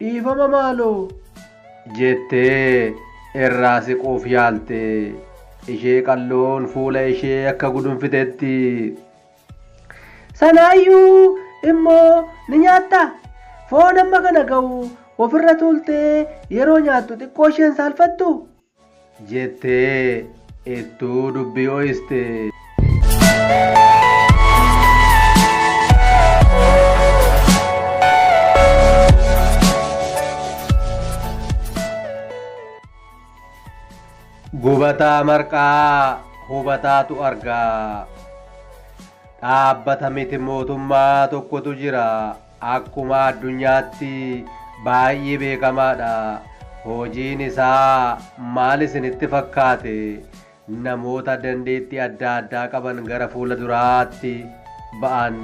Dhiifama maaloo! jettee irraa siquuf yaalte. Ishee qalloon fuula ishee akka gudunfitetti. Sanaayyuu immoo ni nyaatta. Foon amma kana ga'u ofirra tuultee yeroo nyaattu xiqqoo isheen saalfattu. jettee ittuu dubbi ho'iste. Gubataa marqaa hubataatu argaa. Dhaabbata miti mootummaa tokkotu jira. Akkuma addunyaatti baay'ee beekamaadha. Hojiin isaa maal isinitti fakkaate? Namoota dandeettii adda addaa qaban gara fuula duraatti ba'an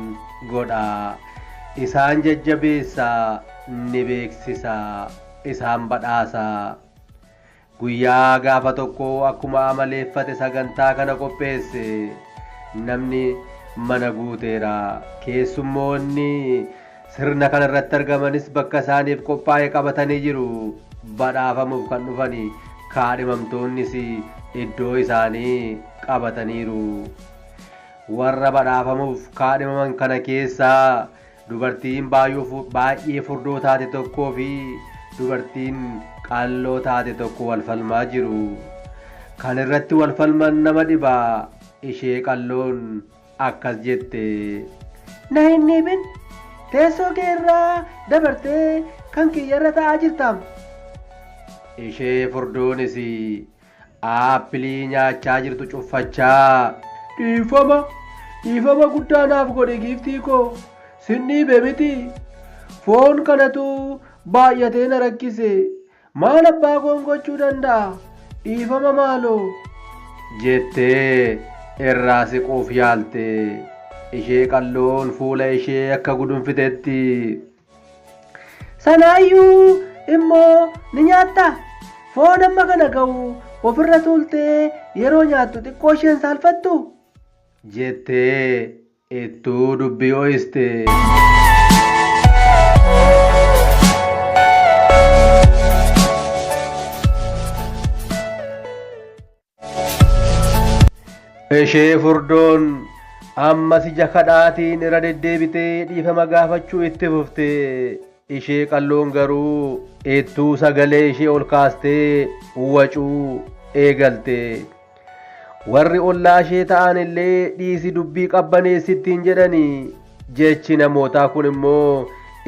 godha. Isaan jajjabeessa, ni beeksisa, isaan badhaasa. Guyyaa gaafa tokko akkuma amaleeffate sagantaa kana qopheesse. Namni mana guuteera. Keessummoonni sirna kana irratti argamanis bakka isaaniif qophaa'e qabatanii jiru. Badhaafamuuf kan dhufan kaadhimamtoonnis iddoo isaanii qabataniiru. Warra badhaafamuuf kaadhimaman kana keessaa Dubartiin baay'ee furdoo taate tokkoo fi dubartiin qalloo taate tokko wal falmaa jiru. Kan irratti wal falman nama dhiba. Ishee qalloon akkas jette. Na hin dhiibin! Teessoo kee irraa dabartee kan kiyyarra ta'aa jirtaam. Ishee furdoonis Aappilii nyaachaa jirtu cuffachaa. Dhiifama, dhiifama guddaa naaf godhi giiftii koo. Sin dhiibe miti. Foon kanatu baay'atee na rakkise. Maal abbaa koon gochuu danda'a? Dhiifama maaloo. jettee irraa siquuf yaalte. Ishee qalloon fuula ishee akka gudunfitetti. Sanaayyuu immoo ni nyaatta. Foon amma kana ga'u ofirra tuultee yeroo nyaattu xiqqoo isheen saalfattu? jettee ittuu dubbii ho'iste. Ishee furdoon ammas ija kadhaatiin irra deddeebitee dhiifama gaafachuu itti fufte. Ishee qalloon garuu ittuu sagalee ishee ol kaastee wacuu eegalte. Warri ollaa ishee ta'an illee dhiisi dubbii qabbaneessittiin jedhanii jechi namootaa kun immoo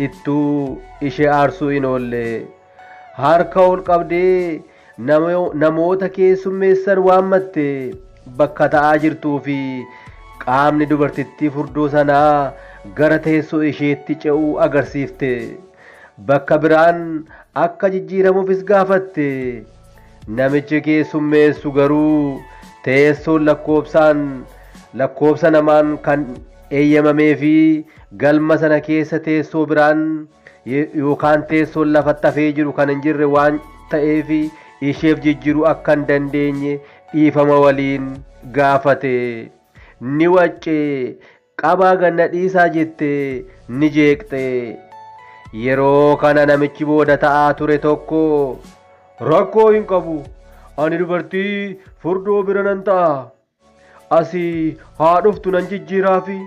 ittuu ishee aarsuu hin oolle. Harka ol qabdee namoota keessummeessan waammatte bakka ta'aa jirtuu fi qaamni dubartittii furdoo sanaa gara teessoo isheetti ce'uu agarsiifte. Bakka biraan akka jijjiiramuufis gaafatte. Namichi keessummeessu garuu teessoon lakkoobsaan lakkoobsa namaan kan eeyyamamee fi galma sana keessa teessoo biraan yookaan teessoon lafatti hafee jiru kan hin jirre waan ta'eef isheef jijjiiruu akka hin dandeenye dhiifama waliin gaafate. Ni wacce, qabaa ganna dhiisaa jette, ni jeeqxe. Yeroo kana namichi booda ta'aa ture tokko rakkoo hin qabu, ani dubartii furdoo bira nan ta'a asii haa dhuftu nan jijjiiraafi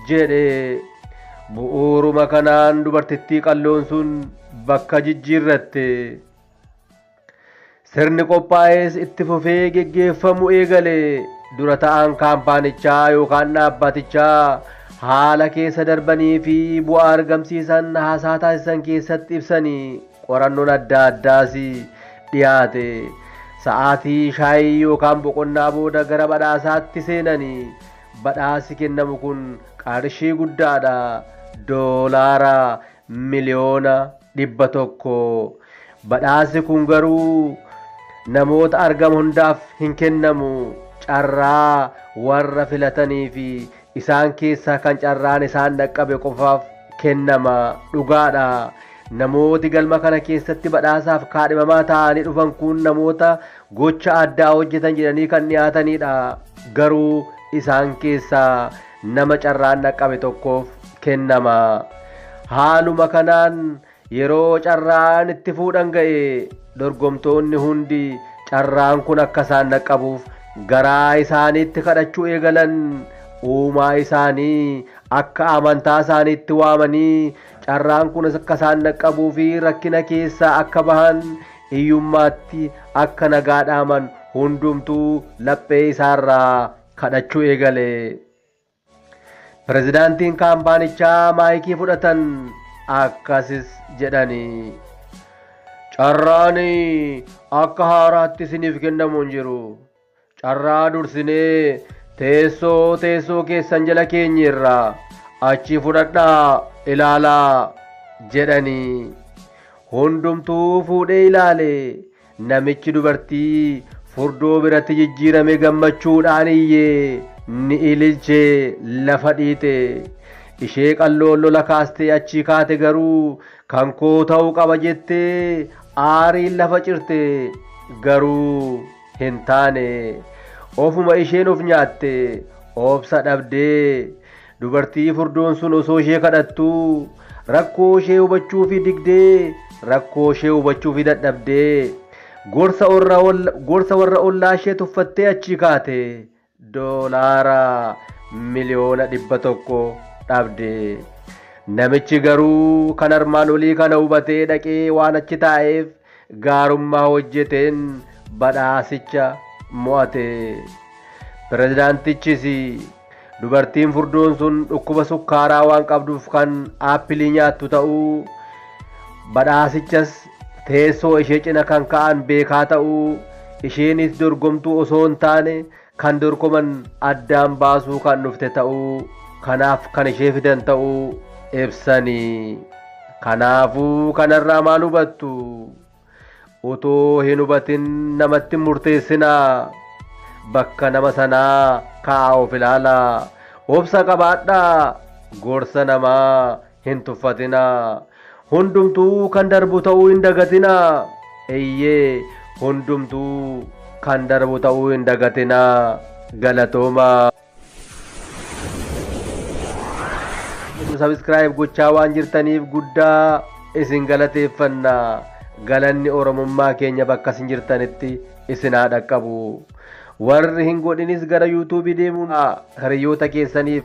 jedhe. Bu'uuruma kanaan dubartittii qalloon sun bakka jijjiirratte. Sirni qophaa'ees itti fufee geggeeffamu eegale. Dura ta'aan kaampaanichaa yookaan dhaabbatichaa haala keessa darbanii fi bu'aa argamsiisan haasaa taasisan keessatti ibsanii Qorannoon adda addaas dhiyaate. Sa'aatii shaayii yookaan boqonnaa booda gara badhaasaatti seenanii badhaasi kennamu kun qarshii guddaadha. Doolaara miliyoona dhibba tokko. Badhaasi kun garuu namoota argama hundaaf hin kennamu. Carraa warra filataniifi Isaan keessaa kan carraan isaan dhaqqabe qofaaf kennama. Dhugaadha. Namooti galma kana keessatti badhaasaaf kaadhimamaa ta'anii dhufan kun namoota gocha addaa hojjetan jedhanii kan dhiyaataniidha. Garuu isaan keessaa nama carraan dhaqqabe tokkoof kennama. Haaluma kanaan Yeroo carraan itti fuudhan ga'e dorgomtoonni hundi carraan kun akka isaan dhaqqabuuf garaa isaaniitti kadhachuu eegalan. Uumaa isaanii akka amantaa isaaniitti waamanii carraan kun akka isaan dhaqqabuu fi rakkina keessaa akka bahan iyyummaatti akka nagaa dhaaman hundumtuu laphee isaarraa kadhachuu eegale. Pirezidaantiin kaampaanichaa maayikii fudhatan akkasis jedhani. Carraan akka haaraatti isiniif kennamu hin jiru. Carraa dursinee teessoo teessoo keessan jala keenye irraa achii fudhadhaa ilaalaa jedhani. Hundumtuu fuudhee ilaale Namichi dubartii furdoo biratti jijjiirame gammachuudhaan iyye, ni ililche, lafa dhiite. Ishee qalloon lola kaastee achii kaate garuu kan koo ta'uu qaba jettee aariin lafa cirte. Garuu hin taane. Ofuma isheen of nyaatte, obsa dhabdee. Dubartii furdoon sun osoo ishee kadhattuu rakkoo ishee hubachuufi digdee rakkoo ishee hubachuufi dadhabdee gorsa warra olla- gorsa warra ollaa ishee tuffattee achii kaate doolaara miliyoona dhibba tokko dhabde. Namichi garuu kan armaan olii kana hubatee dhaqee waan achi taa'eef gaarummaa hojjeteen badhaasicha mo'ate. Pirezidaantichis dubartiin furdoon sun dhukkuba sukkaaraa waan qabduuf kan aappilii nyaattu ta'uu, badhaasichas teessoo ishee cina kan ka'an beekaa ta'uu, isheenis dorgomtuu osoo hin taane kan dorgoman addaan baasuu kan dhufte ta'uu kanaaf kan ishee fidan ta'uu ibsani. Kanaafuu kanarraa maal hubattu? Otoo hin hubatin namatti hin murteessinaa. Bakka nama sanaa ka'aa of ilaalaa. Obsa qabaadhaa. Gorsa namaa hin tuffatinaa. Hundumtuu kan darbu ta'uu hin dagatinaa. Eeyyee, hundumtuu kan darbu ta'uu hin dagatinaa. Galatoomaa. Subscribe gochaa waan jirtaniif guddaa isin galateeffanna. Galanni Oromummaa keenya bakka isin jirtanitti isin haa dhaqqabu. Warri hin godhinis gara YouTube deemuun hiriyoota keessaniif